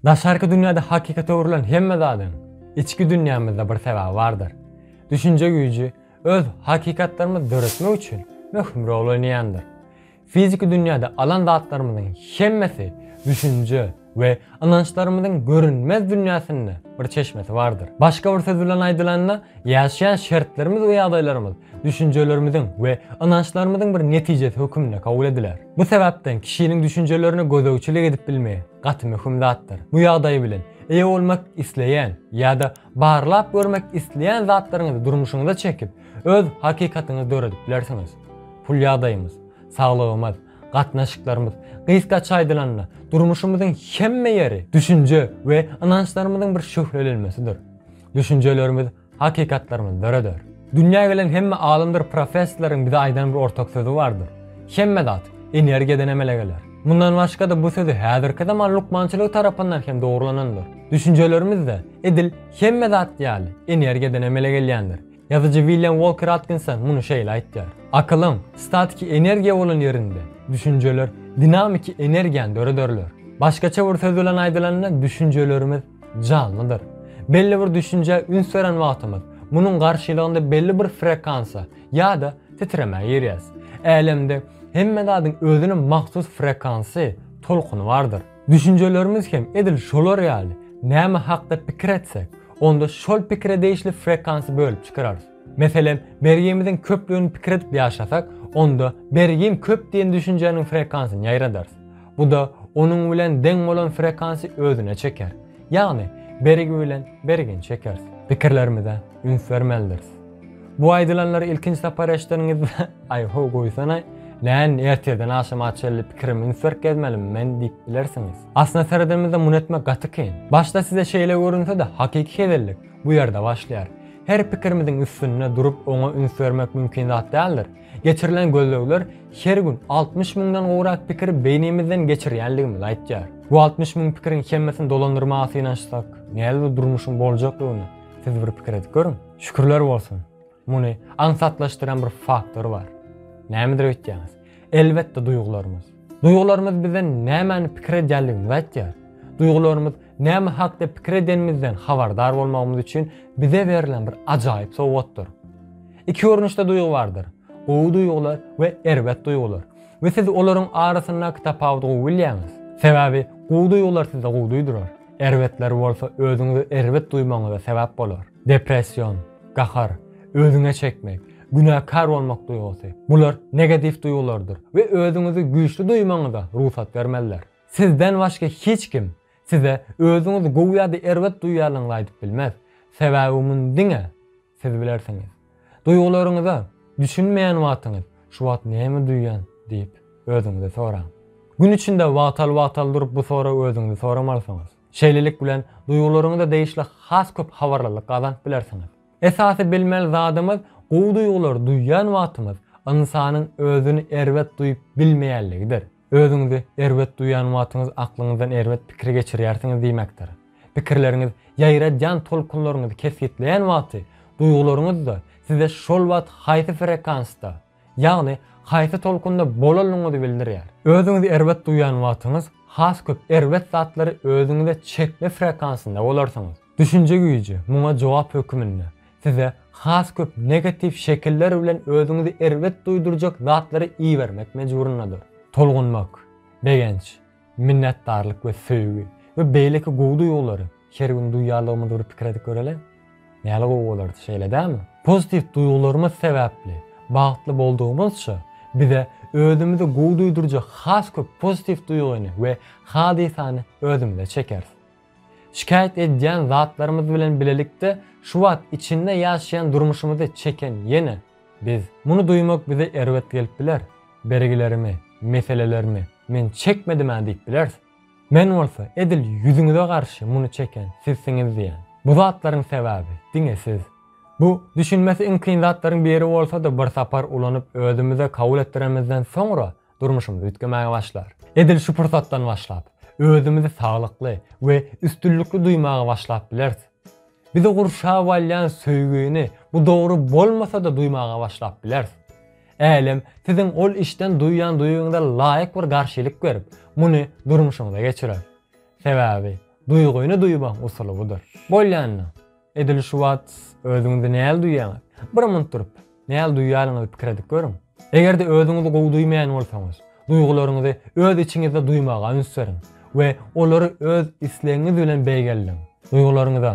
Daşarky dünýäde hakykata öwrülen hemme zadyň içki dünýämizde bir sebäbi bardyr. Düşünje güýji öz hakykatlarymyzy döretmek üçin möhüm rol oýnaýandyr. Fiziki dünýäde alan zatlarymyzyň hemmesi düşünje we ynançlarymyzyň görünmez dünýäsinde bir çeşmesi bardyr. Başga bir söz bilen aýdylanda, ýaşaýan şertlerimiz we ýagdaýlarymyz düşünjelerimiziň we ynançlarymyzyň bir netijesi hökmünde kabul ediler. Bu sebäpden kişiniň düşünjelerine gözegçilik edip bilmegi, gaty möhüm zatdyr. Bu ýagdaý bilen eýe bolmak isleýän ýa-da barlap görmek isleýän zatlaryňyzy durmuşyňyza çekip, öz hakykatyňyzy döredip bilersiňiz. Pul ýagdaýymyz, saglygymyz, gatnaşyklarymyz, gysgaça aýdylanda, durmuşymyzyň hemme ýeri düşünje we ynançlarymyzyň bir şöhlelenmesidir. Düşünjelerimiz Hakykatlarymyz döreder. Dünýä gelen hemme alymdyr professorlaryň bize aýdan bir ortak sözi bardyr, Hemme zat energiýadan emele geler. Mundan başga-da bu sözi häzirki zaman lukmançylygy tarapyndan hem dogrulanandyr. Düşünjelerimiz-de edil hemme zat ýaly energiýadan emele gelýändir. Ýazyjy William Walker Atkinson muny şeýle aýtýar, Akylyň statiki energiýa bolan ýerinde düşünjeler dinamiki energiýany dörederler. Başgaça bir söz bilen aýdylanda düşünjelerimiz janlydyr. Belli bir düşünjä üns beren wagtymyz, munuň garşylygynda belli bir frekansa ýa-da titremä girýäs. Älemde hemme zadyň özüne mahsus frekansy, tolkuny bardyr. Düşünjelerimiz hem edil şolar ýaly, näme hakda pikir etsek, onda şol pikire degişli frekansy bölüp çykararys. Meselem, bergimiziň köplügini pikir edip ýaşasak, onda bergim köp diýen düşünjäniň frekansyny ýaýradarys. Bu-da onuň bilen deň bolan frekansy özüne çeker. Ýagny, bergi bilen bergini çekeris. Pikirlerimize üns bermelidiris. Bu aýdylanlary ilkinji sapar eşideniňizde, Aý, ho, goýsana-aý, näin, ertirden agşama çenli pikirimi üns berip gezmelimi men diýip bilersiňiz. Aslynda seredenimizde muny etmek gaty kyn. Başda size şeýle görünse-de, hakyky hezellik. Bu ýerde başlaýar. Her pikirimiziň üstünde durup oňa üns bermek mümkin zat däldir. Geçirilen gözlegler her gün altmyş müňden gowrak pikiri beýnimizden geçirýänligimizi aýtýar. Bu altmyş müň pikiriň hemmesini dolandyrmaga synanyşsak, näze bir durmuşyň boljakdygyny siz bir pikir edip görüň. Şükürler bolsun! Muny aňsatlaşdyran bir faktor bar. Nämedir öýtýäňiz? Elbetde duýgularymyz. Duýgularymyz bize nämäni pikir edýänligimizi aýtýar. Duýgularymyz näme hakda pikir edenimizden habardar bolmagymyz üçin bize berlen bir ajaýyp sowgatdyr. Iki görnüşde duýgy bardyr, gowy duýgular we erbet duýgular. We siz olaryň arasyndaky tapawudy gowy bilýäňiz. Sebäbi gowy duýgular size gowy duýdurar, erbetleri bolsa özüňizi erbet duýmagyňyza sebäp bolar. Depression, gahar, özüňe çekmek, günäkär bolmak duýgusy, bular negatiw duýgulardyr we özüňizi güýçli duýmagyňyza rugsat bermezler. Sizden başga hiç kim size özüňizi gowy ýa-da erbet duýýarlygyňyzy aýdyp bilmez, sebäbi muny diňe siz bilersiňiz. Duýgularyňyza düşünmeýän wagtyňyz Şu wagt näme duýýan? diýip, özüňizi soraň. Gün içinde wagtal-wagtal durup bu soragy özüňizi soramalysyňyz. Şeýlelik bilen, duýgularyňyza degişli has köp habarlylyk gazanyp bilersiňiz. Esasy bilmeli zadymyz, gowy duýgulary duýýan wagtymyz ynsanyň özüni erbet duýup bilmeýänligidir. Özüňizi erbet duýýan wagtyňyz aklyňyzdan erbet pikir geçirýärsiňiz diýmekdir. Pikirleriňiz ýaýradýan tolkunlaryňyzy kesgitleýän wagty, duýgularyňyz-da size şol wagt haýsy frekansda, ýagny haýsy tolkunda bolanyňyzy bildirýär. Özüňizi erbet duýan wagtyňyz has köp erbet zatlary özüňize çekme frekansynda bolarsyňyz. Düşünje güýji muňa jogap höküminde size has köp negatiw şekiller bilen özüňizi erbet duýdurjak zatlary ibermek mejburyndadyr. Tolgunmak, begenç, Minnetdarlyk we söýgi we beýleki gowy duýgulary her gün duýýarlygymyzy bir pikir edip göreli. Näle gowy bolardy, şeýle dälmi? Pozitiw duýgularymyz sebäpli bagtly boldugymyzça, bize özümizi gowy duýdurjak has köp pozitiw duýgyny we hadysany özümize çekeris. Şikaýat edýän zatlarymyz bilen bilelikde şu wagt içinde ýaşaýan durmuşymyzy çeken ýene biz. Muny duýmak bize erbet gelip biler. Bergilerimi, meselelerimi men çekmedim-ä diýip bileris. Men bolsa edil ýüzüňize garşy muny çeken sizsiňiz diýen. Bu zatlaryň sebäbi diňe siz. Bu düşünmesi iň kyn zatlaryň biri bolsa-da bir sapar ulanyp özümize kabul etdiremizden soňra durmuşymyz üýtgemäge başlar. Edil şu pursatdan başlap, özümizi saglykly we üstünlikli duýmaga başlap bileris. Bizi gurşap alýan söýgini bu dogry bolmasa-da duýmaga başlap bileris. Älem siziň ol işden duýýan duýgyňyza laýyk bir garşylyk berip, muny durmuşyňyza geçirer. Sebäbi duýgyny duýmagyň usuly budur. Bolýanyny. Edil şu wagt özüňizi näl duýýaňyz? Bir munt durup, näl duýýanyňyzy pikir edip görüň. Eger-de özüňizi gowy duýmaýan bolsaňyz, duýgularyňyzy öz içiňizde duýmaga üns beriň we olary öz islegiňiz bilen beýgeldiň. Duýgularyňyza,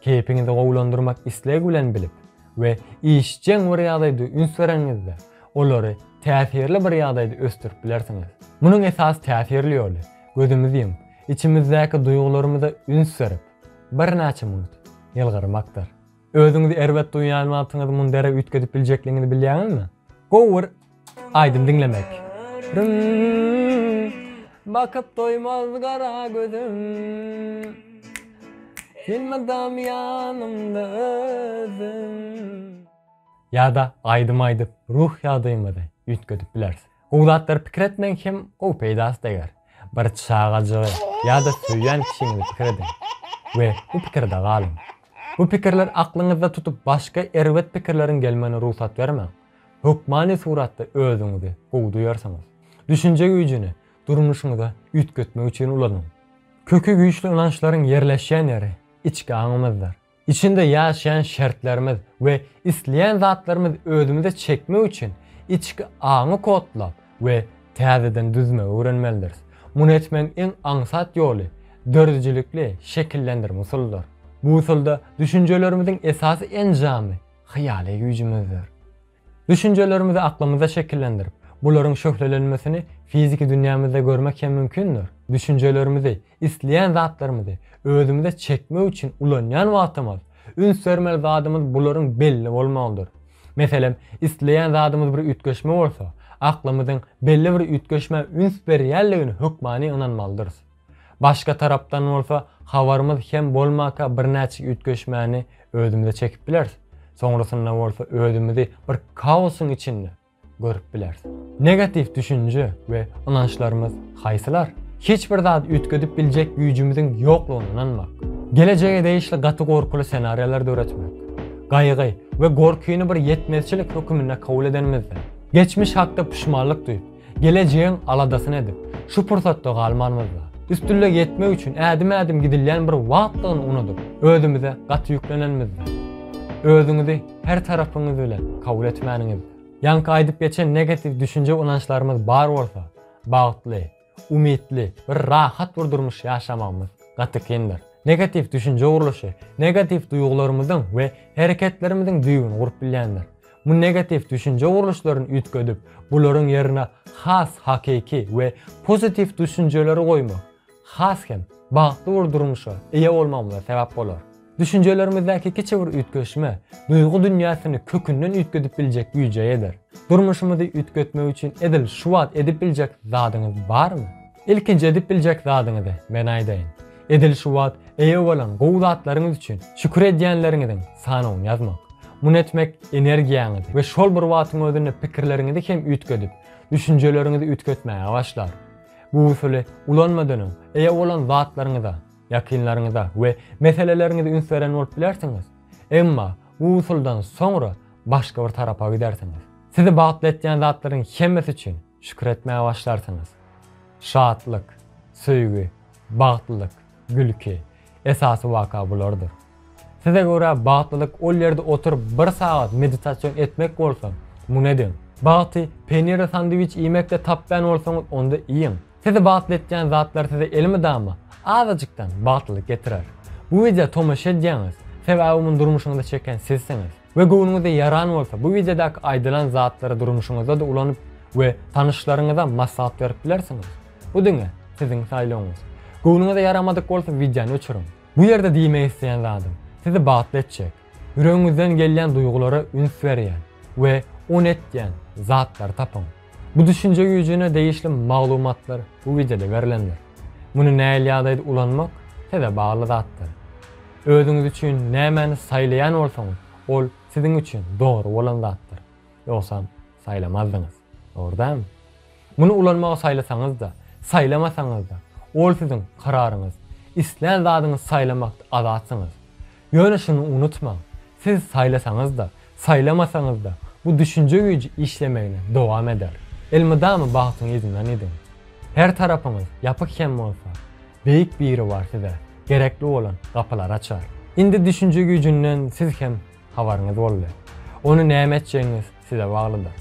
keýpiňizi gowulandyrmak islegi bilen bilip we işjeň bir ýagdaýda üns bereniňizde, olary täsirli bir ýagdaýda ösdürip bilersiňiz. Munuň esasy täsirli ýoly, gözümizi ýumup, içimizdäki duýgularymyza üns berip, Birnäçe minut ýylgyrmakdyr. Özüňizi erbet duýýan wagtyňyzy mundere üýtgedip biljekligiňizi bilýäňizmi? Gowy bir aýdym diňlemek. Rüm, Bakyp doýmaz gara gözüm, Elmydam ýanymda özüm. Ýa-da aýdym aýdyp ruh ýagdaýyňyzy üýtgedip bilersiň. Gowy zatlary pikir etmeň hem gowy peýdasy deger. Bir çagajygy ýa-da söýýän kişiňizi pikir ediň we bu pikirde galyň. Bu pikirler aklyňyzda tutup başga erbet pikirleriň gelmegine rugsat bermäň. Hökmany suratda özüňizi gowy duýarsyňyz. Düşünje güýjüni durmuşyňyza üýtgetmek üçin ulanyň. Köki güýçli ynançlaryň ýerleşýän ýeri içki aňymyzdyr. Içinde ýaşaýan şertlerimiz we isleýän zatlarymyz özümize çekmek üçin içki aňy kodlap we täzeden düzmegi öwrenmelidiris. Muny etmegiň iň aňsat ýoly döredijilikli şekillendirme usulydyr. Bu usulda düşünjelerimiziň esasy enjamy hyýaly güýjümizdir. Düşünjelerimizi aklymyzda şekillendirip, bularyň şöhlelenmesini fiziki dünýämizde görmek hem mümkindir. Düşünjelerimizi, isleýän zatlarymyzy özümize çekmek üçin ulanýan wagtymyz, üns bermeli zadymyz bularyň belli bolmagydyr. Meselem, isleýän zadymyz bir üýtgeşme bolsa, aklymyzyň belli bir üýtgeşmä üns berýänligini hökmany ynanmalydyrys. Başga tarapdan bolsa, habarymyz kem bolmaka birnäçe üýtgeşmäni özümize çekip bileris, soňrasynda bolsa özümizi bir kaosyň içinde görüp bileris. Negatiw düşünje we ynançlarymyz haýsylar? Hiç bir zady üýtgedip biljek güýjümiziň ýoklugyna ynanmak. Gelejege degişli gaty gorkuly senariýalar döretmek. Gaýgy we gorkyny bir ýetmezçilik höküminde kabul edenimizde, geçmiş hakda puşmanlyk duýup, Gelejegiň aladasyny edip, şu pursatda galmanymyzda, üstünlige ýetmek üçin ädim-ädim gidilýän bir wagtdygyny unudyp, özümize gaty ýüklenenimizde, özüňizi her tarapyňyz bilen kabul etmäniňizde, ýaňky aýdyp geçen negatiw düşünje-ynançlarymyz bar bolsa, bagtly, umytly, bir rahat bir durmuş ýaşamagymyz gaty kyndyr. Negatiw düşünje gurluşy negatiw duýgularymyzyň we hereketlerimiziň düýbüni gurup bilýändir. Bu negatiw düşünje gurluşlaryny üýtgedip, bularyň ýerine has hakyky we pozitiw düşünjeleri goýmak has hem bagtly bir durmuşa eýe bolmagymyza sebäp bolar. Düşünjelerimizdäki kiçi bir üýtgeşme duýgy dünýäsini kökünden üýtgedip biljek güýje eýedir. Durmuşymyzy üýtgetmek üçin edil şu wagt edip biljek zadyňyz barmy? Ilkinji edip biljek zadyňyzy men aýdaýyn. Edil şu wagt eýe bolan gowy zatlaryňyz üçin şükür edýänleriňiziň sanawyny ýazmak. Muny etmek energiýaňyzy we şol bir wagtyň özünde pikirleriňizi hem üýtgedip, düşünjeleriňizi üýtgetmäge başlar. Bu usuly ulanmadan öň eýe bolan zatlaryňyza, ýakynlaryňyza we meseleleriňize üns beren bolup bilersiňiz. Emma bu usuldan soňra başga bir tarapa gidersiňiz. Sizi bagtly etýän zatlaryň hemmesi üçin Şükür etmäge başlarsyňyz. Şatlyk, söýgi, bagtlylyk, gülki, esasy waka bulardyr. Size görä bagtlylyk ol ýerde oturyp bir sagat meditasion etmek bolsa, muny ediň. Bagty penirli sandwiç iýmekde tapýan bolsaňyz onda iýiň. Sizi bagtly etýän zatlar size elmydama azajykdan bagtlylyk getirer. Bu wideo tomaşa edýäňiz, sebäbi muny durmuşyňyza çeken sizsiňiz. We göwnüňize ýaran bolsa bu wideodaky aýdylan zatlary durmuşyňyzda-da ulanyp we tanyşlaryňyza maslahat berip bilersiňiz. Bu diňe siziň saýlawyňyz. Göwnüňize ýaramadyk bolsa wideony öçüriň. Bu ýerde diýmek isleýän zadym, sizi batly etjek, ýüregiňizden gelýän duýgulara üns berýän we ony etýän zatlary tapyň. Bu düşünje güýjüne degişli maglumatlar bu wideoda berlendir. Muny näil ýagdaýda ulanmak size bagly zatdyr. Özüňiz üçin nämäni saýlaýan bolsaňyz, ol siziň üçin dogry bolan zatdyr. Ýogsam saýlamazdyňyz. Dogry dämi? Muny ulanmagy saýlasaňyzda, saýlamasaňyzda, ol siziň kararyňyz. Islän zadyňyzy saýlamakda azatsyňyz. Ýöne şuny unutmaň, siz saýlasaňyz-da, saýlamasaňyz-da, bu düşünje güýji işlemegini dowam eder. Elmydama bagtyň yzyndan idiň. Her tarapyňyz ýapyk hem bolsa, Beýik Biribar size gerekli bolan gapylary açar. Indi düşünje güýjünden siz hem habaryňyz boldy. Ony näme etjegiňiz size baglydyr.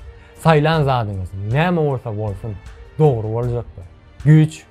Saýlan zadyňyz näme bolsa bolsun, dogry boljakdyr. Güýç.